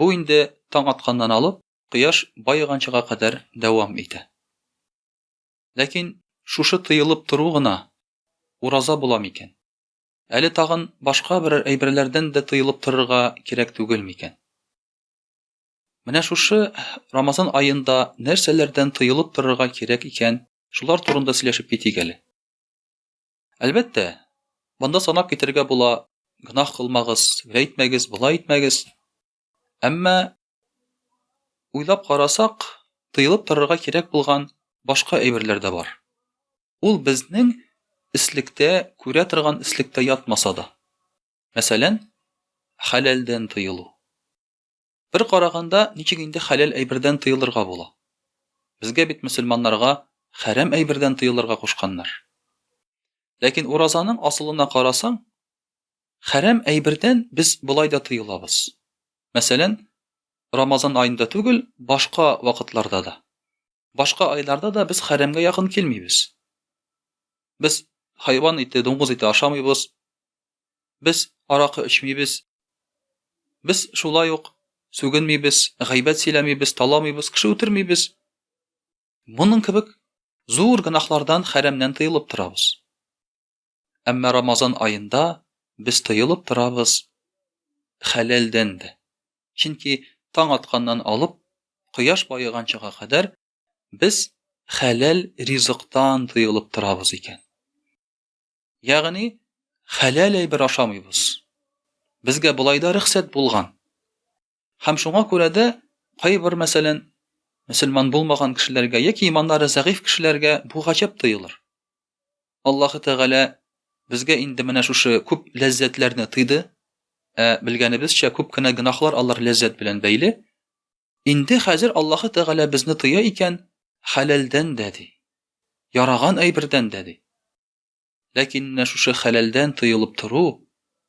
Бу инде таң атканнан алып, кояш баеганчыга кадәр дәвам итә. Ләкин шушы тыелып тору гына ураза була микән? Әле тагын башка берәр әйберләрдән дә тыелып торырга кирәк түгел микән? Менә шушы Рамазан аенда нәрсәләрдән тыелып торырга кирәк икән, шулар турында сөйләшеп китик әле. Әлбәттә, монда санап китергә була, гөнаһ кылмагыз, гә итмәгез, болай итмәгез. Әмма уйлап карасак, тыелып торырга кирәк булган башка әйберләр дә бар. Ул безнең ислектә, күрә торган ислектә ятмаса да. Мәсәлән, хәләлдән тыелу. Бер караганда, ничек инде хәләл әйбердән тыелырга була? Безгә бит мөселманнарга хәрам әйбердән тыелырга кушканнар. Ләкин уразаның асылына карасаң, хәрам әйбердән без болай да тыелабыз. Мәсәлән, Рамазан аенда түгел, башка вакытларда да. Башка айларда да без хәрәмгә якын килмибез. Без хайван ите, дуңгыз ите ашамыйбыз, без аракы эчмибез, без шулай ук сүгенмибез, гайбәт сөйләмибез, таламыйбыз, кеше үтермибез. Моның кебек зур гөнаһлардан, хәрәмнән тыелып торабыз. Әмма Рамазан аенда без тыелып торабыз хәләлдән дә. Чөнки таң атканнан алып, кояш баеганчага кадәр без хәләл ризыктан тыелып торабыз икән. Ягъни, хәләл әйбер ашамыйбыз. Безгә болай да рөхсәт булган. Һәм шуңа күрә дә кайбер, мәсәлән, мөселман булмаган кешеләргә яки иманнары зәгыйфь кешеләргә бу гаҗәп тоелыр. Аллаһы Тәгалә безгә инде менә шушы күп ләззәтләрне тыйды, ә белгәнебезчә күп кенә гөнаһлар алар ләззәт белән бәйле. Инде хәзер Аллаһы Тәгалә безне тыя икән, хәләлдән дә ди. Яраган әйбердән дә ди. Ләкин менә шушы хәләлдән тыелып тору,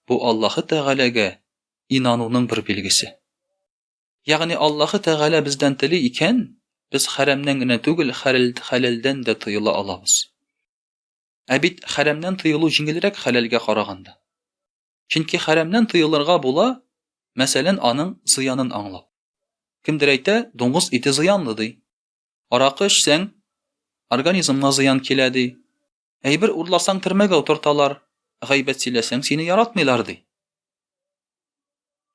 бу Аллаһы Тәгаләгә инануның бер билгесе. Ягъни Аллаһы Тәгалә бездән тели икән, без хәрәмнән генә түгел, хәләлдән дә тыела алабыз. Ә бит хәрәмнән тыелу җиңелрәк хәләлгә караганда. Чөнки хәрәмнән тыелырга була, мәсәлән, аның зыянын аңлап. Кемдер әйтә, дуңгыз ите зыянлы, ди. Аракы эчсәң, организмга зыян килә, ди. Әйбер урласаң, төрмәгә утырталар, гайбәт сөйләсәң, сине яратмыйлар, ди.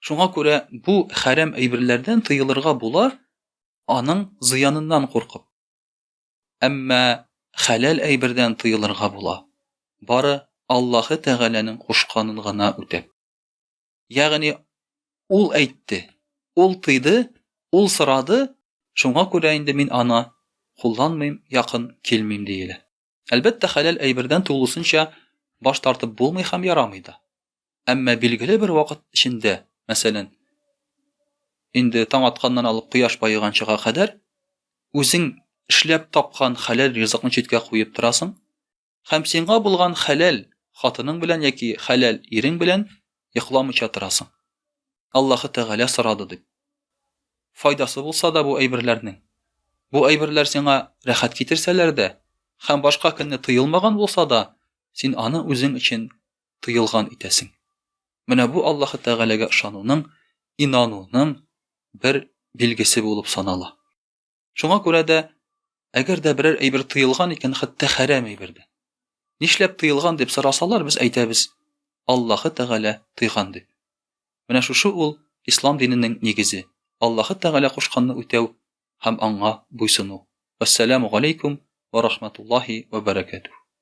Шуңа күрә бу хәрәм әйберләрдән тыелырга була, аның зыяныннан куркып. Әмма хәләл әйбердән тыелырга була, бары Аллаһы Тәгаләнең кушканын гына үтәп. Ягъни Ул әйтте, Ул тыйды, Ул сорады, шуңа күрә инде мин аны кулланмыйм, якын килмим, диелә. Әлбәттә, хәләл әйбердән тулысынча баш тартып булмый һәм ярамый да. Әмма билгеле бер вакыт эчендә, мәсәлән, инде таң атканнан алып кояш баеганчыга кадәр үзең эшләп тапкан хәләл ризыкны читкә куеп торасың һәм сиңа булган хәләл хатының белән яки хәләл ирең белән йокламыйча торасың. Аллаһы Тәгалә сорады дип. Файдасы булса да бу әйберләрнең. Бу әйберләр сиңа рәхәт китерсәләр дә һәм башка көнне тыелмаган булса да, син аны үзең өчен тыелган итәсең. Менә бу Аллаһы Тәгаләгә ышануның, инануның бер билгесе булып санала. Шуңа күрә дә, әгәр дә берәр әйбер тыелган икән, хәтта хәрәм әйбер дә. Нишләп тыелган дип сорасалар, без әйтәбез, Аллаһы Тәгалә тыйган дип. Менә шушы ул ислам диненең нигезе, Аллаһы Тәгалә кушканны үтәү һәм аңа буйсыну. Вәссәламу галәйкүм вә рахматуллаһи вә бәрәкәтүһ.